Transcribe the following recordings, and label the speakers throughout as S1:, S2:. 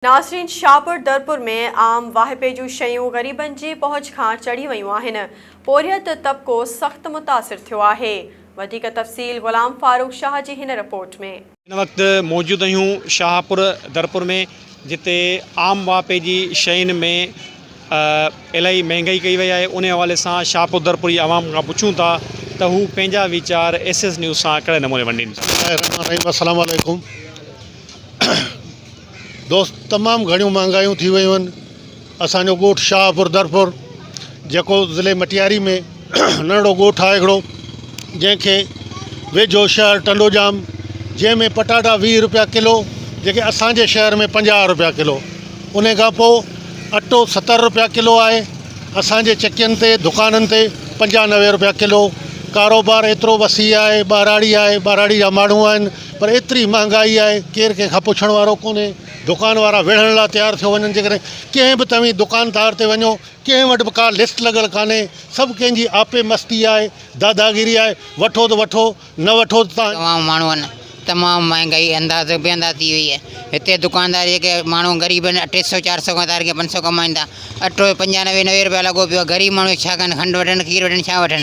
S1: ناصرين شاهپور درپور ۾ عام واهپي جون شيون غريبن جي پهچ کان چڙهي ويون آهن، پورهيت طبقو سخت متاثر ٿيو آهي، وڌيڪ تفصيل غلام فاروق شاهه جي هن رپورٽ ۾. هن وقت موجود
S2: آهيون شاهپور درپور ۾ جتي عام واهپي جي شين ۾ الاهي مهنگائي ڪئي وئي آهي انهي حوالي سان شاهپور درپور جي عوام کان پڇون ٿا ته هو پنهنجا ويچار ايس ايس نيوز سان ڪهڙي نموني ونڊين. بسمالله الرحمن الرحيم السلام عليڪم.
S3: دوست تمام گهڻيون مهانگايون ٿي ويون آهن اسان جو ڳوٺ شاهپور درپور جيڪو ضلعي مٽياري ۾ ننڍڙو ڳوٺ آهي هڪڙو جنهن کي ويجهو شهر ٽنڊوڄام جنهن ۾ پٽاٽا ويهه روپيا ڪلو جيڪي اسان جي شهر ۾ پنجاهه روپيا ڪلو انهي کان پوء اٽو ستر روپيا ڪلو آهي اسان جي چڪين تي دڪانن تي پنجاهه نوي روپيا ڪلو ڪاروبار ايترو وسيع آهي ٻهراڙي آهي ٻهراڙي جا ماڻهو آهن پر ايتري مهانگائي آهي ڪير ڪنهن کان پڇڻ وارو ڪونهي دڪان وارا وڙهڻ لاء تيار ٿيو وڃن جيڪڏهن ڪنهن به توهين دڪاندار تي وڃو ڪنهن وٽ به ڪا لسٽ لڳل ڪانهي سڀ ڪنهن جي آپي مستي آهي داداگيري آهي وٺو ته وٺو نه وٺو ته تان تمام ماڻهن
S4: تمام مهانگائي اندازو بي انداز ٿي وئي آهي هتي دڪاندار جيڪي ماڻهو غريب آهن ٽي سئو چار سئو کان ڌار ڪري پنج سئو ڪمائين ٿا اٽو پنجاهه نوي نوي روپيا لڳو پيو آهي غريب ماڻهو ڇا ڪن کنڊ وٺن کير وٺن ڇا وٺن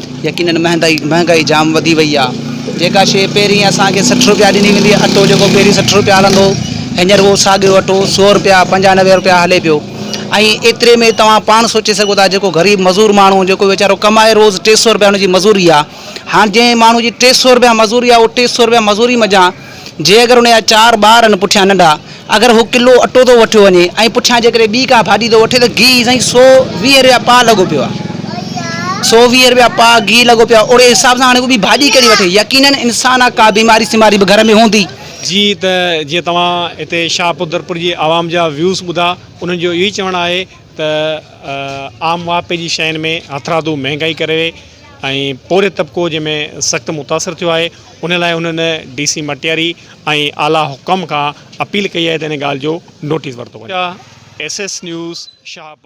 S5: يقينن مهانگائي جام وڌي وئي آ جيڪا شي پهرين اسان کي سٺ روپيا ڏني ويندي هئي اٽو جيڪو پهرين سٺ روپيا هلندو هو هينئر اهو ساڳيو اٽو سو روپيا پنجاهه نوي روپيا هلي پيو ۽ ايتري ۾ توهان پاڻ سوچي سگهو ٿا جيڪو غريب مزور ماڻهو جيڪو ويچارو ڪمائي روز ٽي سو روپيا ان جي مزوري آ هاڻ جنهن ماڻهو جي ٽي سو روپيا مزوري آ اهو ٽي سو روپيا مزوري منجهان جي اگر ان جا چار ٻار آهن پٺيان ننڍا، اگر هو ڪلو اٽو ٿو وٺيو وڃي ۽ پٺيان جيڪڏهن ٻي ڪا ڀاڄي ٿو وٺي ته گيهه سائين سؤ ويهه رپيا پاء لڳو پيو آهي. سؤ ويهه رپيا پاء گيهه لڳو پيو آهي اوڙي حساب سان هاڻي هو ٻي ڀاڄي ڪهڙي وٺي؟ يقينن انسان آهي ڪا بيماري سيماري به گهر ۾ هوندي. جي ته
S2: جيئن توهان هتي شاهپوردرپور جي عوام جا ويوز ٻڌا انهن جو اهو ئي چوڻ آهي ته عام واهپي جي شين ۾ هٿرادو مهنگائي ڪري ۽ پورهيت طبقو جنهن ۾ سخت متاثر ٿيو آهي ان لاء هنن ڊي سي مٽياري ۽ اعليٰ حڪام کان اپيل ڪئي آهي ته ان ڳالهه جو نوٽيس ورتو وڃي. S S news Shahpur.